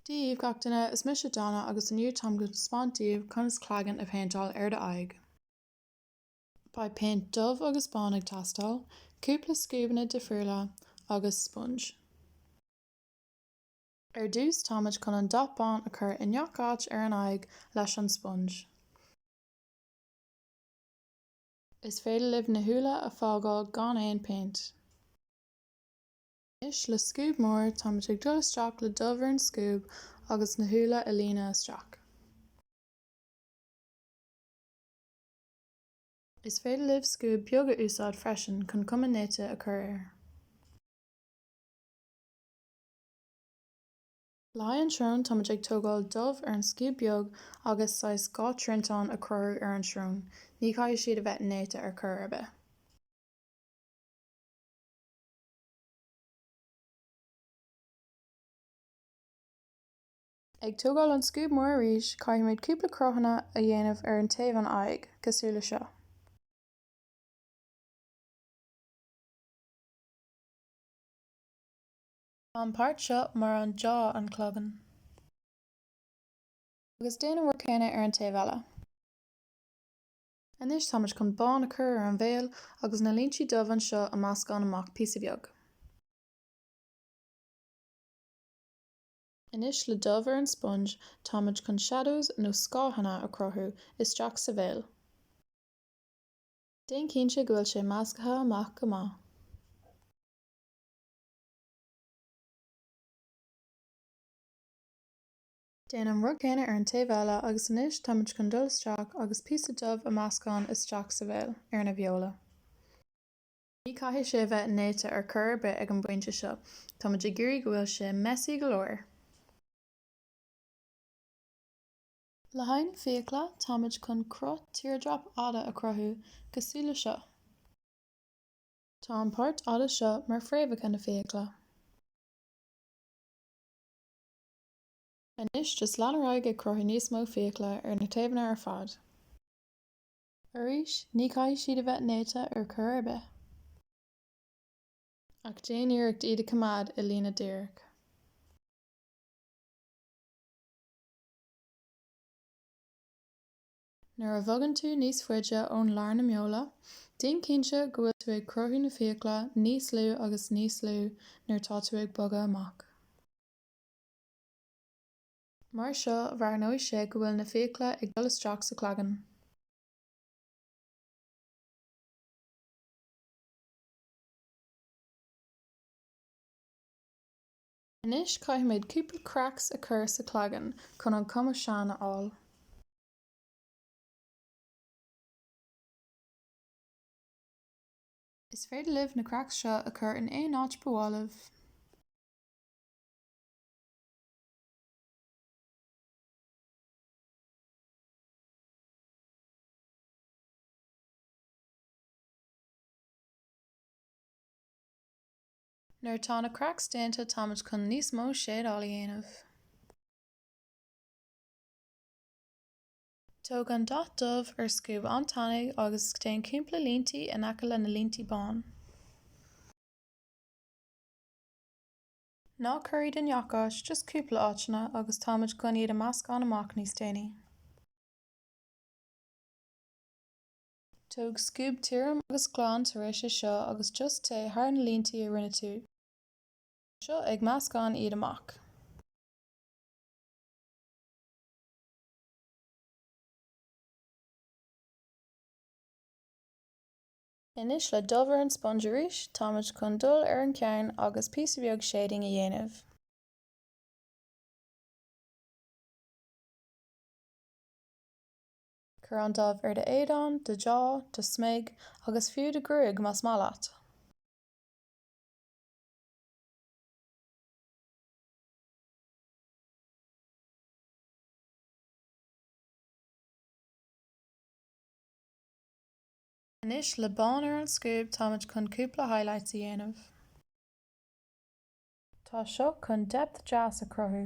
Dia daoibh gach duine, is mise Donna agus inniu táim ag taispeáint daoibh conas cloigeann a phéinteáil ar do aghaidh. Beidh péint dubh agus bán ag teastáil, cúpla scuabanna difriúla agus sponge. Ar dtús táimid chun an dath bán a chur i ngach áit ar an aghaidh leis an sponge. Is féidir libh na shúile a fágáil gan aon péint. Anois, le scuab mór, táimid ag dul isteach le dubh ar an scuab agus na shúile a líonadh isteach. Is féidir libh scuab beag a úsáid freisin chun cuma néata a chur air. Le haghaidh an tsrón, táimid ag tógáil dubh ar an scuab beag agus saghas dhá triantán a cur ar an tsrón, ní chaithfidh siad a bheith néata ar chor ar bith. Ag tógáil an scuab mór arís, caithfimid cúpla cruthanna a dhéanamh ar an taobh an aghaidh, cosúil le seo. Tá an páirt seo mar an jaw an cloigeann. Agus déan an rud céanna ar an taobh eile. Anois táimid chun bán a cur ar an bhéal agus na líntí dubh anseo a meascán amach píosa beag. Anois le dubh ar an sponge táimid chun shadows nó scáthanna a cruthú isteach sa bhéal. Déan cinnte go bhfuil sé measctha amach go maith. Déan an rud céanna ar an taobh eile agus anois táimid chun dul isteach agus píosa dubh a meascán isteach sa bhéal, ar na bheola. Ní caithfidh sé a bheith néata ar cor ar bith ag an bpointe seo, táimid ag iarraidh go bhfuil sé messy go leor! Le haghaidh na fiacla táimid chun cruth teardrop fhada a cruthú, cosúil le seo. Tá an páirt ar leith seo mar phréamhacha na fiacla. Anois, just lean ar aghaidh ag cruthú níos mó fiacla ar na taobhanna ar fad. Arís, ní chaithfidh siad a bheith néata ar chor ar bith. Ach déan iarracht iad a choimeád i líne díreach. Nuair a bhogann tú níos faide ón lár na mbeol, déan cinnte go bhfuil tú ag cruthú na fiacla níos lú agus níos lú nuair tá tú ag bogadh amach. Mar seo breathnóidh sé go bhfuil na fiacla ag dul isteach sa cloigeann. Anois caithfimid cúpla cracks a chur sa chloigeann chun an cuma sean a fháil. Is féidir libh na cracks seo a chur in aon áit ba mhaith libh. Nuair atá na cracks déanta táimid chun níos mó shading a dhéanamh. Tóg an dath dubh ar scuab an-tanaí agus déan cúpla líntí in aice le na líntí bán. Ná cuir iad i ngach áit, just cúpla áiteanna agus táimid chun iad a meascán amach níos déanaí. Tóg scuab tirim agus glan tar éis seo agus just téigh thar na líntí a rinne tú. Tá sé seo ag meascán iad amach. Anois le dubh ar an sponge arís, táimid chun dul ar an cheann agus píosa beag shading a dhéanamh. Cuir an dubh ar do éadán, do jaw, do smig agus fiú do ghruaig más mhaith leat. Anois le bán ar an scuab táimid chun cúpla highlights a dhéanamh. Tá seo chun depth deas a chruthú.